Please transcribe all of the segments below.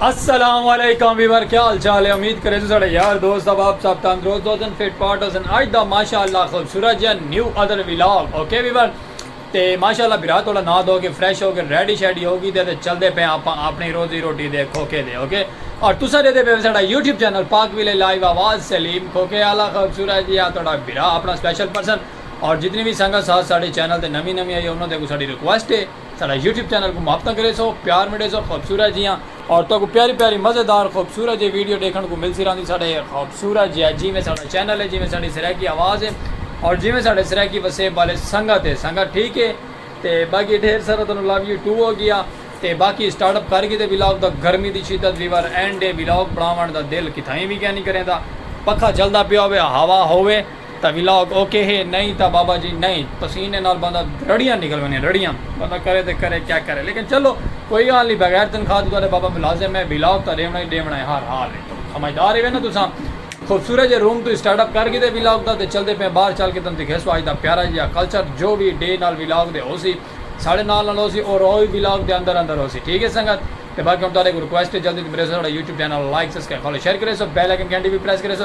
السلام علیکم ویور کیا حال چال ہے امید کرے تو سڑے یار دوست اب آپ سب تندرست ہو سن فٹ پاٹ ہو سن آج دا ماشاءاللہ خوبصورت جن new other vlog okay viewer تے ماشاءاللہ برا تھوڑا نہ دو گے فریش ہو گے ریڈی شیڈی ہو گی دے تے چل دے پہ آپ اپنی روزی روٹی دے کھوکے دے اوکے اور تو سڑے دے پہ سڑا یوٹیوب چینل پاک ویلے لائیو آواز سلیم کھوکے آلہ خوبصورت جی آتوڑا برا اپنا سپیشل پرسن اور جتنی وی سنگت ساتھ ساڈے چینل تے نوی نوی آئی ہے انہاں دے اگوں ساڈی ریکویسٹ ہے ساڈا یوٹیوب چینل کوں محبتاں کریسو پیار مڈیسو خوبصورت جیاں اور تہاکوں پیاری پیاری مزیدار خوبصورت جیاں ویڈیو ڈیکھن کوں ملتی راہندی ساڈے خوبصورت جیاں جیویں ساڈا چینل ہے جیویں ساڈی سرائیکی آواز ہے اور جیویں ساڈے سرائیکی وسیب والے سنگت ہے سنگت ٹھیک ہے تے باقی ڈھیر سارا تہانوں لو یو ٹو ہو گیا تے باقی سٹارٹ اپ کر گھیدے ولاگ دا گرمی دی شدت ویور اینڈ ہے ولاگ بناون دا دل کتھائیں وی کینی کریندا پکھا چلدا پیا ہووے ہوا ہووے تاں ولاگ اوکے ہے نئیں تاں بابا جی نئیں پسینے نال بندہ رڑیاں نکل ونجن رڑیاں بندہ کرے تاں کرے کیا کرے لیکن چلو کوئی گال نئیں بغیر تنخواہ توں تہاڈا بابا ملازم ہے ولاگ تاں ڈیونڑاں ای ڈیونڑاں ہے ہر حال اچ توں سمجھدار ہیوے نا تساں خوبصورت جے روم توں اسٹارٹ اپ کر گھدے ولاگ دا تے چلدے پئے باہر چل کے تانوں دکھیسوں اج دا پیارا جیہا کلچر جو وی ڈے نال ولاگ دے ہوسی ساڈے نال نال ہوسی اور او وی ولاگ دے اندر اندر ہوسی ٹھیک ہے سنگت تے باقی ہن تہاڈے کوں ریکویسٹ ہے جلدی توں پلیز ساڈا YouTube channel like subscribe follow share کریسو بیل آئیکن گھنٹی وی پریس کریسو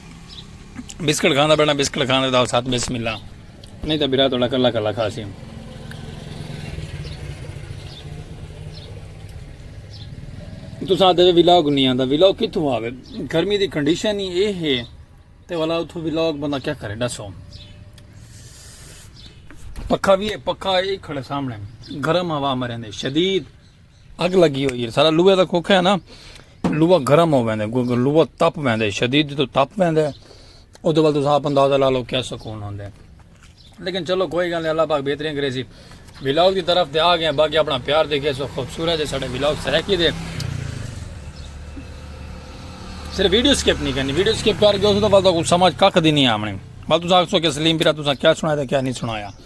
بسکٹ کھاندا بیٹھا بسکٹ کھانے دا ساتھ بسم اللہ نہیں تو برا تھوڑا کلا کلا کھا سی تو ساتھ دے ویلاگ نہیں آندا ویلاگ کتھوں آوے گرمی دی کنڈیشن ہی اے ہے تے والا اتھوں ویلاگ بندہ کیا کرے دسو پکھا بھی ہے پکھا اے کھڑے سامنے گرم ہوا مرے دے شدید اگ لگی ہوئی ہے سارا لوہے دا کوکھا ہے نا لوہا گرم ہو ویندے لوہا تپ ویندے شدید تو تپ ویندے او دے ول تساں اپ اندازہ لا لو کیا سکون ہوندے لیکن چلو کوئی گل نہیں اللہ پاک بہترین کرے سی ولاگ دی طرف تے آ گئے باقی اپنا پیار دیکھے سو خوبصورت ہے ساڈے ولاگ سرکی دے صرف ویڈیو سکپ نہیں کرنی ویڈیو سکپ کر کے اس تو بعد سمجھ کک دی نہیں آمنی بس تساں آکھو کہ سلیم پیرا تساں کیا سنایا کیا نہیں سنایا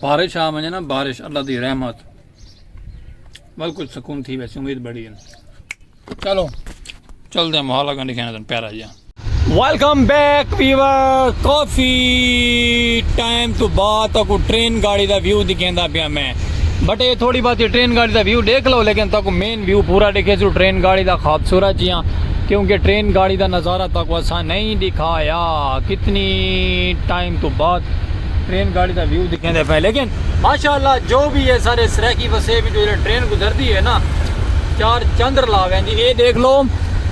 بارش آ ونجے نا بارش اللہ دی رحمت بل کچھ سکون تھی ویسے امید بڑی ہے چلو چل دے محالا گنڈی کھانا تن پیارا جی ویلکم بیک ویور کافی ٹائم تو بعد تک ٹرین گاڑی دا ویو دکھیندا پیا میں بٹ یہ تھوڑی بات ٹرین گاڑی دا ویو دیکھ لو لیکن تک مین ویو پورا دیکھے سو ٹرین گاڑی دا خوبصورت جیاں کیونکہ ٹرین گاڑی دا نظارہ تک وسا نہیں دکھایا کتنی ٹائم تو بعد ٹرین گاڑی دا ویو دکھیندے پئے لیکن ماشاءاللہ جو وی ہے سارے سرائیکی وسیب وچوں جیڑھے ٹرین گزردی ہے نا چار چندر لا ویندی اے دیکھ لو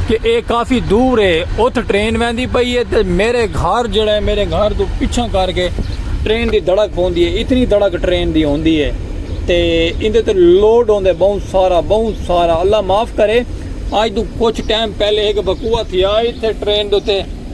کہ اے کافی دور ہے اتھ ٹرین ویندی پئی ہے تے میرے گھر جیڑھا ہے میرے گھر توں پچھاں کر کے ٹرین دی دھڑک پوندی ہے اتنی دھڑک ٹرین دی ہوندی ہے تے ایندے تے لوڈ ہوندے بہوں سارا بہوں سارا اللہ معاف کرے اج توں کچھ ٹائم پہلے ہک وقوعہ تھیا ایتھے ٹرین دے تے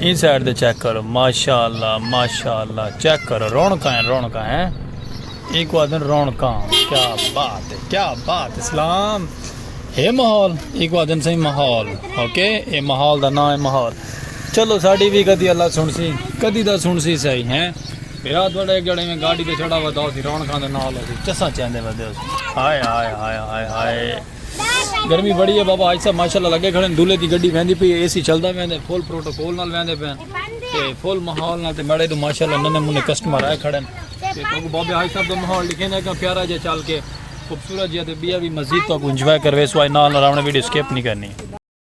ایں سائیڈ تے چیک کرو ماشاءاللہ ماشاءاللہ چیک کرو رونقاں ہیں رونقاں ہیں ایک وادن رونقاں کیا بات ہے کیا بات ہے اسلام ہے محول ایک وادن سے محول اوکے اے محول دا نام ہے محول چلو ساڑی بھی کدی اللہ سن سی کدی دا سن سی سائی ہیں بیرات بڑا ایک جڑے میں گاڑی دے چھڑا ودا ہو سی رونقاں دے نال ہو سی چسا چیندے ودے ہو سی آئے آئے آئے آئے آئے گرمی بڑی ہے بابا آج صاحب ماشاءاللہ لگے کھڑے ہیں دولے دی گڈی ویندی پی اے سی چلدا ویندے فل پروٹوکول نال ویندے پے تے فل ماحول نال تے میڑے تو ماشاءاللہ ننے منے کسٹمر آئے کھڑے ہیں تے تو بابا آج صاحب دا ماحول لکھے نے کہاں پیارا جا چل کے خوبصورت جا تے بیا بھی مزید تو انجوائے کروے سو آج نال نال راونے ویڈیو سکپ نہیں کرنی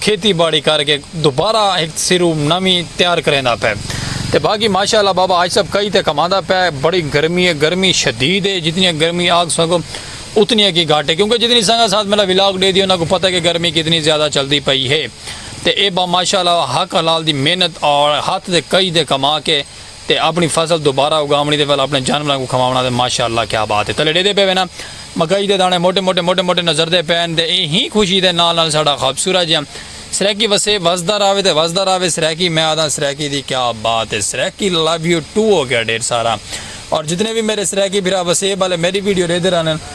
کھیتی باڑی کر کے دوبارہ ہک سرو نویں تیار کریندا پئے تے باقی ماشاء اللہ بابا حاج صاحب کئی تے کماندا پئے بڑی گرمی ہے گرمی شدید ہے جتنی گرمی آگ سگو اتنی کی گھٹ ہے کیونکہ جتنی سنگا ساتھ میرا ولاگ ڈے دی انہاں کو پتہ کہ گرمی کتنی زیادہ چلدی پئی ہے تے اے با ماشاء اللہ حق حلال دی محنت اور ہاتھ دے کئی دے کما کے تے اپݨی فصل دوبارہ اگاوݨی تے ول اپݨے جانوراں کوں کھواوݨا تے ماشاء اللہ کیا بات اے تلے ݙیندے پئے وینا مکئی دے داݨے موٹے موٹے موٹے موٹے نظردے پئن تے ایں ہی خوشی دے نال نال ساݙا خوبصورت جیہاں سرائیکی وسے وسدا راہوے تے وسدا راہوے سرائیکی میں آہداں سرائیکی دی کیا بات اے سرائیکی لو یو ٹو ہو گیا ڈھیر سارا اور جتنے وی میرے سرائیکی بھرا وسیب آلے میݙی ویڈیو ݙیندے رہندن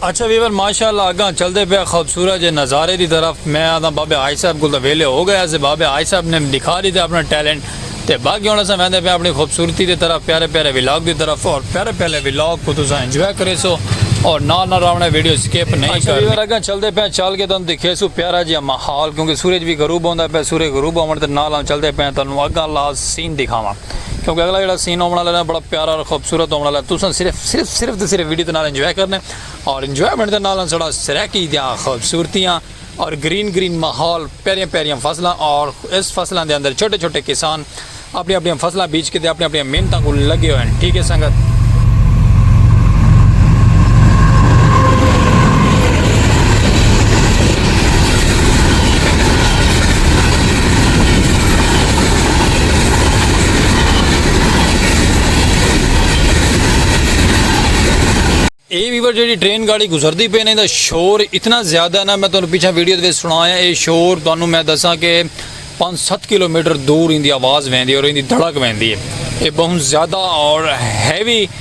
اچھا ویور ماشاء اللہ اگاں چلدے پیا خوبصورت جے نظارے دی طرف میں آنداں بابے حاج صاحب کول تاں ویلے ہو گئے اسے بابے حاج صاحب نے ڈکھا ڈیتے اپنا ٹیلنٹ تے باقی ہن اساں ویندے پیاں اپنی خوبصورتی دی طرف پیارے پیارے ولاگ دی طرف اور پیارے پیارے ولاگ کو تساں انجوائے کریسو اور نال نال راونے ویڈیو سکپ نہیں اچھا ویور اگاں چلدے پیاں چل کے تانوں دکھیسو پیارا جیا ماحول کیونکہ سورج بھی غروب ہوندا پیا سورج غروب ہون تے نال نال چلدے پیاں تانوں اگاں لا سین دکھاواں کیونکہ اگلا جڑا سین ہونا والا ہے بڑا پیارا اور خوبصورت ہونا والا ہے تساں صرف صرف صرف تے صرف ویڈیو دے نال انجوائے کرنے اور انجوائمنٹ دے نال سڑا سرائیکی دیاں خوبصورتیاں اور گرین گرین ماحول پیاریاں پیاریاں فصلاں اور اس فصلاں دے اندر چھوٹے چھوٹے کسان اپنی اپنی فصلاں بیچ کے دے اپنی اپنی محنتاں کو لگے ہوئے ہیں ٹھیک ہے سنگت اے ویور جیڑی ٹرین گاڑی گزردی پے نے دا شور اتنا زیادہ ہے نا میں تانوں پیچھے ویڈیو دے سنایا اے شور تانوں میں دساں کہ 5 7 کلومیٹر دور ان دی آواز ویندی اور ان دی دھڑک ویندی ہے اے بہت زیادہ اور ہیوی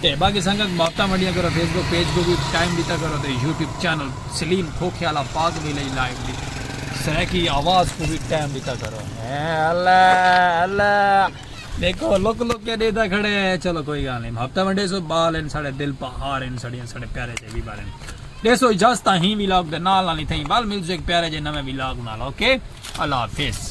تے باقی سنگت محبتاں ونڈیاں کرو فیس بک پیج کوں وی ٹائم ڈیتا کرو تے یوٹیوب چینل سلیم کھوکھے آلا پاک وی لئی لائک دی سرائیکی آواز کوں وی ٹائم ڈیتا کرو اللہ اللہ دیکھو لک لک کے دیتا کھڑے چلو کوئی گال نہیں محبتاں ونڈے سو بال ان ساڑے دل پا ہار ان ساڑے ان ساڑے پیارے جے وی بال ان دے سو اجازتہ ہی وی لاگ دے نال نالی تھیں بال ملزو ایک پیارے جے نوے وی لاگ نال اوکے اللہ حافظ